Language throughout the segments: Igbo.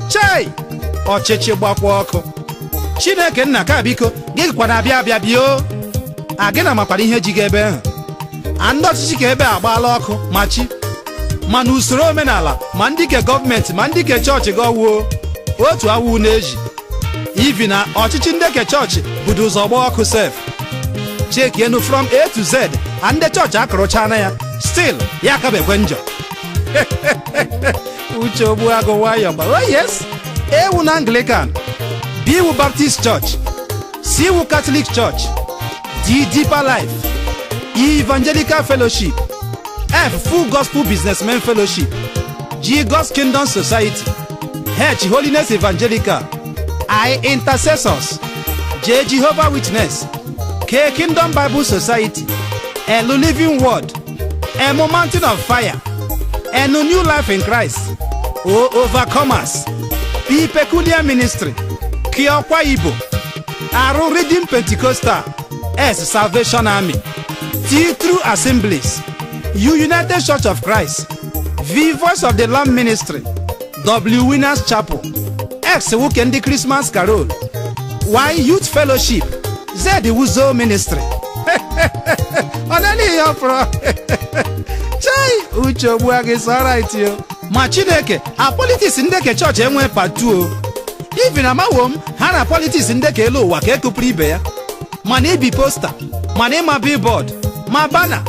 chei ọchịchị gbakwa ọkụ chineke nna ka biko gị kwa na-abịa abịa bịa o a gị na makwanụ ihe ji gị ebe ahụ a ndị ọchịchị ke ebe agbaala ọkụ ma chi ma na usoro omenala ma ndị ke gọọmenti ma ndị ke chọọchị gị ọwuo otu awụ n'ezi ivin na ọchịchị ndị ke chọọchị budu ụzọ gbaa ọkụ sef chekienụ from a to z a ndị chọọchị akụrụchana ya stil ya akabekwe njọ uche ogbu agụ nwayọ gba oh yes ewu na anglican b iwu baptist church c iwu catholic church d deeper life e evangelical fellowship f full gospel businessmen fellowship g god's kingdom society h holiness evangelical i intercessors j jehovah witness k kingdom bible society l living word M Mountain of Fire, N New Life in Christ, O Overcomers, P Peculiar Ministry, K Ọkwa Igbo, Arụ Redeemed Pentecostal, S Salvation Army, T True Assemblies, U United Church of Christ, V Voice of the Lamb Ministry, w winners chapel x wụ ke ndị krismas carol y youth fellowship z wuzo ministry ọ naanị ya pọrọ chai uche ogbuagu is alright o ma chineke a politiks ndị ke chọọchị enwe part two ivin amawo m ha na politiks ndị ke elu ụwa ke ekupụrụ ibe ya ma n'ibi posta ma n'ịma billboard ma bana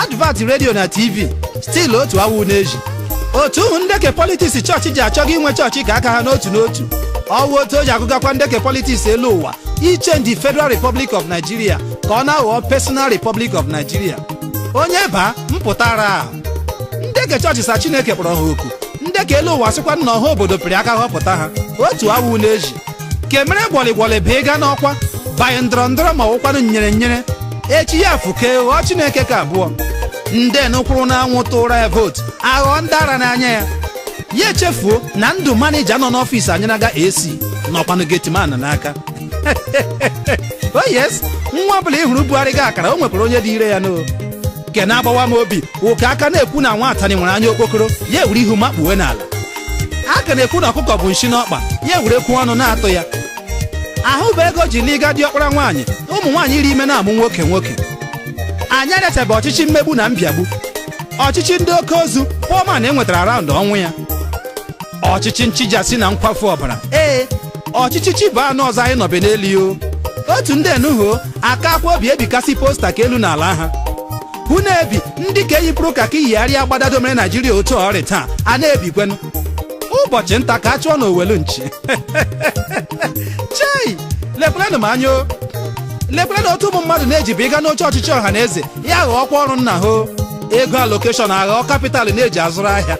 advert redio na tv stil otu awụ n'ezi otu ahụ ndeke politiks chọọchị ji achọga inwe chọọchị ke aka ha n'otu n'otu ọwụ otu o ji agụgakwa ndeke politiks elu ụwa ichenji federal republic of nigeria ka ọ na-aghọọ personal republic of nigeria onye baa mpụta ara ahụ ndeke chọọchị sa chineke kpọrọ ha oku ndeke elu ụwa sịkwa na ọha obodo pịrị aka họpụta ha otu awụ n'ezi ke mere gwọlịgwọlị bụ ịga n'ọkwa banye ndọrọ ndọrọ ma ọwụkwanụ nyere nyere echi ya fụke ghọọ chineke ke abụọ ndị nụ kwụrụ n'anwụ tụra ya vootu aghọọ ndị ara n'anya ya ya echefuo na ndụ manija nọ n'ọfịs anyịnaga ac nọkwanụ getiman n'aka o yes nwa ọbụla ị hụrụ bugharịga akara o nwekwara onye dị ire ya n'o ke na-agbawa m obi wụ ka a ka na-ekwu na nwa atanị nwere anya okpokoro ya ewere ihu makpuwe n'ala a ka na-ekwu na ọkụkọ bu nshị n'ọkpa ya ewerekwuo ọnụ na-atụ ya ahụbe ego e ji alụga diọkpara nwaanyị ụmụ nwaanyị rị ime na-amụ nwoke nwoke anyị arịachabe ọchịchị mmegbu na mbịagbu ọchịchị ndị oke ozu poor man enwetara araụndụ ọnwụ ya ọchịchị nchijasị na nkwafu ọbara ee ọchịchị chi bọọ anụ ọzọ anyị nọbe n'elu o. otu ndị enuho aka akwa obi ebikasị posta ka elu na ala ha hụ na-ebi ndị ke yipụrụ kaki yigharịa agbada domere naijiria otu ọ rị taa a na-ebikwenụ ụbọchị nta ka a chụọ n'owelu nchi chei lekwerenụ m anya o lekwerenụ otu ụmụ mmadụ na-ejibe ịga n'oche ọchịchị ọha na eze ya aghọọkwa ọrụ nna ha o. ego alokeshọn aghọọ kapital na-eji azụrụ ahịa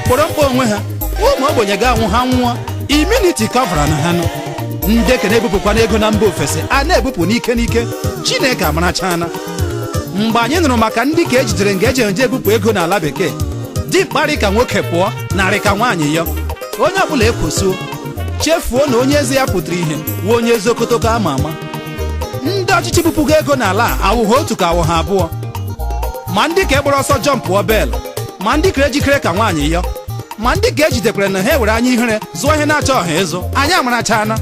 kpọrọ mkpa onwe ha ụmụ ogbenye ga-anwụ ha nwụọ imuniti kọvaranụ ha nụ ndị ke na-ebupụkwanụ ego na mba ofesi a na-ebupụ n'ike n'ike chineke amarachana mgbe anyị nụrụ maka ndị ke ejidere nga eji eje ebupụ ego n'ala bekee dimkpa rị ka nwoke pụọ na-arị ka nwaanyị yọ onye ọbụla ekwosuo chefuo na onye eze ya pụtara ihe wụ onye eze okotoko ama ama ndị ọchịchị bupụgo ego n'ala a awụghị otu ka awụghị abụọ ma ndị ke gbara ọsọ jọmpụọ bel ma ndị kere jikere ka nwaanyị yọ ma ndị ke ejidekwere nụ ha ewere anya ihere zụọ ihe na-achọghị ịzụ anyị amarachana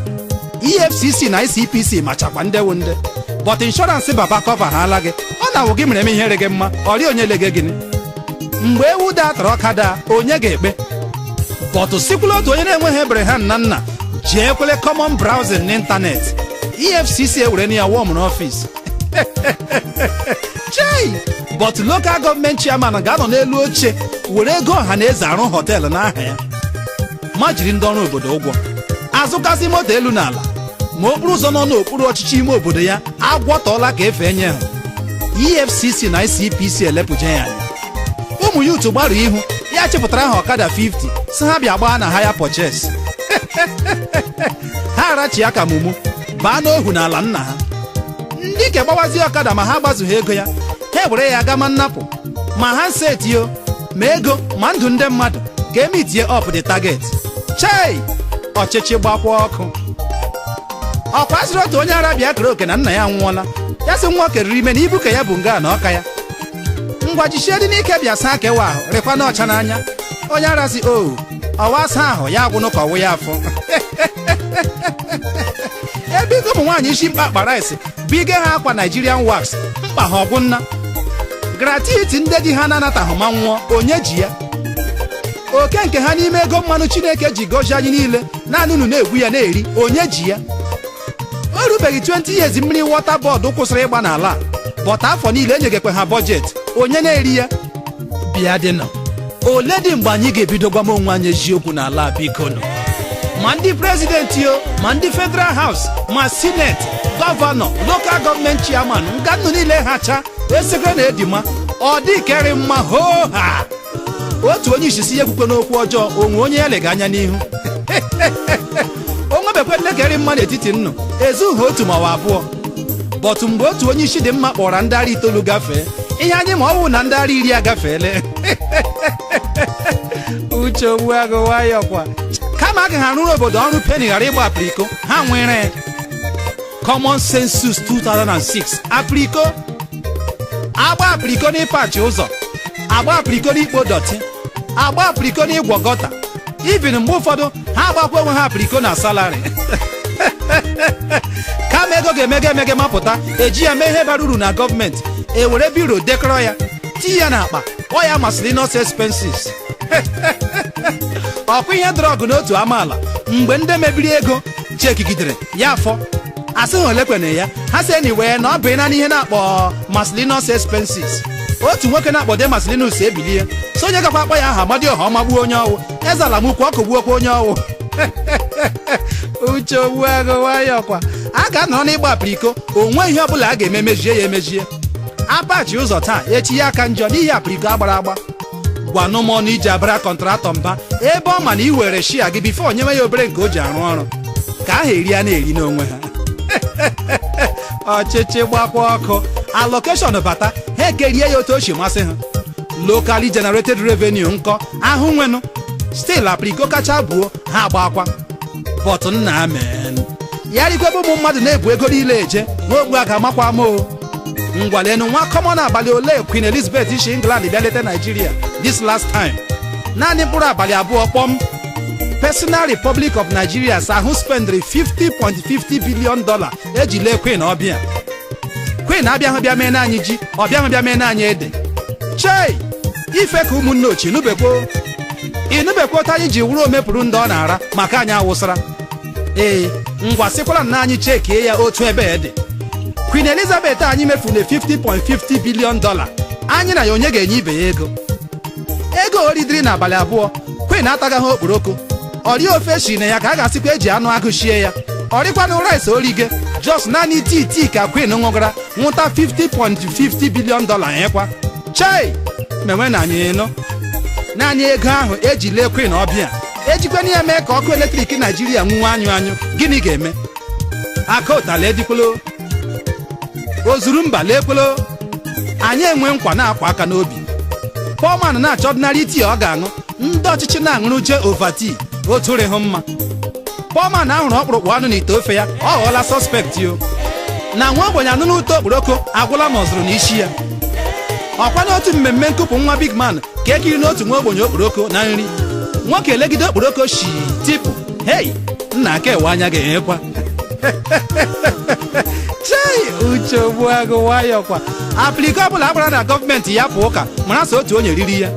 efcc na icpc machakwa ndị wụ ndị bọt inshọransị baba kọva ha ala gị ọ na-awụ gị mere m ihe rị gị mma ọ rịa onye lege gịnị mgbe ewu daa tara ọka daa onye ga-ekpe bọtụ sikwula otu onye na-enweghị Abraham na nna ji ekwele common browsing n'ịntanetị efcc ewere na ya wọm n'ọfịs chei bọtụ lokal gọọmenti chairman ga-anọ n'elu oche were ego ọha na eze arụ họteelụ n'aha ya ma jiri ndị ọrụ obodo ụgwọ azụkasị moto elu na ala ma okporo ụzọ nọ n'okpuru ọchịchị ime obodo ya agwọtọọla ka efe enye ha efcc na icpc elepụje ya anya ụmụ youth gbarụọ ihu ya achịpụtara ha ọkada 50 sị ha bịa gbaa na haya pọches ha arachi ya ka mumu baa n'ohu n'ala nna ha ndị ke gbawazie ọkada ma ha gbazughị ego ya ha were ya gama nnapụ ma ha nsetio ma ego ma ndụ ndị mmadụ ka e mitie up the target chei ọchịchị gbakwa ọkụ ọ kwa asịrị otu onye ara bịa kere oke na nna ya nwụọla ya sị nwa okeriri ime na ibu ke ya bu nga na ọka ya ngwa jichie dị n'ike bịa saa kewa ahụ rịkwa n'ọcha n'anya onye ara sị o ọwa asa ahụ ya agwụnụ ka ọ wụ ya afọ ebe ego ụmụ nwaanyị isi mkpe akpara isi bụ ige ha akwa Nigerian wax mkpa ha ọ gwụna gratuity ndị di ha na-anataghị ma nwụọ onye ji ya oke nke ha n'ime ego mmanụ Chineke ji gọzie anyị niile naanị unu na-egwu ya na-eri onye ji ya o rubeghị 20 years mmiri wọta bọọdụ kwụsịrị ịgba n'ala a, bọt afọ niile enyegekwe ha bọjetị onye na-eri ya bịa dịnụ olee dị mgbe anyị ga-ebido gwama onwe anyị eziokwu n'ala a, biko nụ ma ndị prezidenti o ma ndị federal haus ma sineti gọvanọ lokal gọọmenti chairman nga nnụ niile hacha esekere na edima ọ dị ke rị mma hoo ha otu onye isi sị ya ekwukwe n'okwu ọjọọ o nwe onye ya lega anya n'ihu o nwebekwele ke rị mma n'etiti nnụ ezughị otu ma ọ bụ abụọ bọtụ mgbe otu onye isi dị mma kpọrọ ndị ara itoolu gafee ihe anyị ma ọ bụ na ndị ara iri agafeele Uche Ogbuagụ nwayọkwa kama agaghị arụrụ obodo ọrụ peni ghara ịgba apiriko ha nwere common census 2006 apiriko agba apiriko n'ịpachi ụzọ agba apiriko n'ikpo dọtị agba apiriko n'igwu gọta ibin mgbe ụfọdụ ha agbakwa onwe ha apiriko na salari kama ego ga-emege emege mapụta eji ya mee ihe bara uru na gọọmenti ewere biro dekọrọ ya ti ya n'akpa ọ ya miscellaneous expenses ọkwa ihe dọrọ ọgụ n'otu amaala mgbe ndị mebiri ego chekigidere ya afọ a sị ha olekwene ya ha sị anyway na ọ bụ naanị ihe a na-akpọ miscellaneous expenses otu nwoke a na-akpọ dee maslinus ebilie sị onye gakwa akpọ ya aha amadioha magbuo onye ọ wụ ezeala m ukwu ọ kụgbuokwa onye ọ wụ uche ogbuagụ nwayọkwa a ga-anọrọ n'ịgba apiriko o nwe ihe ọbụla a ga-eme mejie ya emejie apachi ụzọ taa echi ya aka njọ n'ihi apiriko agbara agba gwanụ m ọnụ i ji abara kọntratọ mba ebe ọ ma na ị were share gị before e nyewe ya obere nke o ji arụ ọrụ ka aha eri a na-eri n'onwe ha ọchịchị gbakwa ọkụ allocation bata ha ekerie ya otu o si masị ha locally generated revenue nke ahụ nwenụ still apriko kacha buo ha agbakwa but nna amen ya rikwebe ụmụ mmadụ na-ebu ego niile eje n'ogbu a ga-amakwa ama ngwa leenụ nwa common abalị ole Queen Elizabeth isi England bịa leta Nigeria this last time naanị mkpụrụ abalị abụọ kpọm Personal Republic of Nigeria sị ha spendịrị 50.50 billion dollar eji lee Queen ọbịa Queen abịahụ bịa meena anyị ji ọ bịahụ bịa meena anyị ede chei ife ka ụmụnne ochie nụbekwo ịnụbekwo otu anyị ji wụrụ omepụrụ ndị ọ na-ara maka anyị awụsara ee ngwa sịkwara na anyị chekie ya otu ebe dị Queen Elizabeth anyị mefuru 50.50 billion dollar anyị na ya onye ga-enye ibe ya ego ego o ridiri n'abalị abụọ Queen atagaghị okporoko o rihụ ofe shi na ya ka a ga-asịkwa eji anụ agụ shie ya o rikwanụ rice o rige just naanị tii tii ka Queen ṅụgara ṅụta 50.50 billion dollar nyekwa chei menwe na anyị nọ naanị ego ahụ eji lee Queen ọbịa ejikwana ya mee ka ọkụ eletrik naijiria nwuwe anyụ anyụ gịnị ga-eme aka ụtala edikwolo o zuru mba leekwelo anyị enwe nkwa na-akwa aka n'obi poor man na-achọ ordinary tii ọ ga-aṅụ ndị ọchịchị na-aṅụrụje Ovaltine otu rịhụ mma poor man ahụrụ ọkpụrụkpụ anụ n'ite ofe ya ọ ghọọla suspect o na nwa ogbenye anụna ụtọ okporoko agwụla ma ọ zụrụ n'isi ya ọkwa n'otu mmemme nkupụ nwa big man ka ekiri n'otu nwa ogbenye okporoko na nri nwoke elegide okporoko shi tipụ hei nna aka ewe anya ga-enyekwa chei uche ogbuagụ nwayọ kwa apliko ọbụla agbara na gọọmenti ya pụ ụka mara sọ otu onye riri ya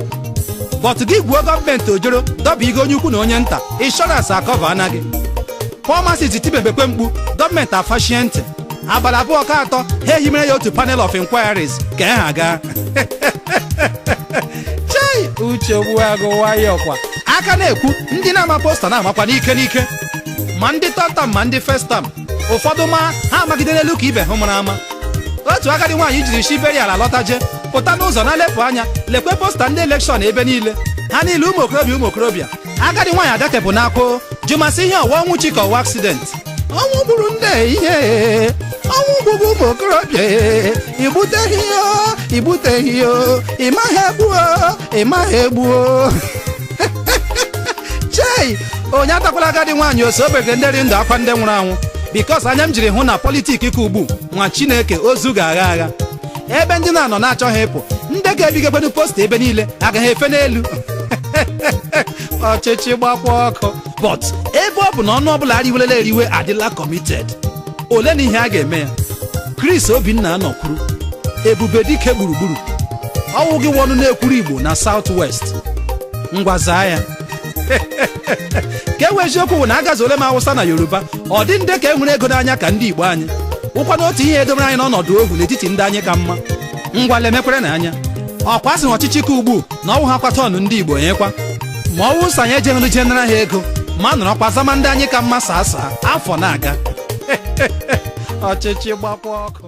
bọt gị gwuo gọọmenti ojoro dọba igo onye ukwu na onye nta inshọransị akọvaana gị poor masses tibebekwe mkpu gọọmenti afashie ntị abalị abụọ ka atọ ha ehimere ya otu panel of inquiries ka ha gaa chei uche ogbuagụ nwayọ kwa a ka na-ekwu ndị na-ama posta na-amakwa n'ike n'ike ma ndị third term ma ndị first term ụfọdụ ma ha amagide n'elu ke ibe ha mara ama otu agadi nwaanyị jiri shi burial alọtaje pụta n'ụzọ na-elepụ anya lekwe posta ndị elekshọn ebe niile ha niile ụmụ okorobịa ụmụ okorobịa agadi nwaanyị adakapụ n'akwa jụma sị ihe ọ wụ ọnwụ chi ka ọ wụ aksident ọnwụ gburu nne ihe ọnwụ gburu ụmụ okorobịa igbuteghị ya igbuteghị ya ịmaghị egbuo ịmaghị egbuo chei onye atakwala agadi nwaanyị ọ sị o begere ndị rị ndụ akwa ndị nwụrụ anwụ bikos anya m jiri hụ na politik ke ugbu nwa chineke ozu ga-agha agha ebe ndị na-anọ na-achọghị ịpụ ndị ga-ebigakwenu posta ebe niile agaghị efe n'elu ọchịchị gbakwa ọkụ but ebe ọ bụ na ọnụ ọbụla eriwelele eriwe adịla committed olenụ ihe a ga-eme ya Chris Obinna anọkwuru ebube dike gburugburu ọ wụ gị wụ ọnụ na-ekwuru Igbo na South West ngwa zaa ya ke wụ eziokwu wụ na agazuole m Awụsa na Yoruba ọ dị ndị ka e nwere ego n'anya ka ndị Igbo anyị ọ wụkwanụ otu ihe edomere anyị n'ọnọdụ ohu n'etiti ndị anyị ka mma ngwa lemekwere na anya ọ kwa sị ọchịchị ke ugbu na ọ wụ ha kwata ọnụ ndị igbo onyekwa ma ọ wụ sị anyị ejeghịnụ jee nara ha ego ma nọrọkwa zama ndị anyị ka mma sir sir afọ na-aga ọchịchị gbakwa ọkụ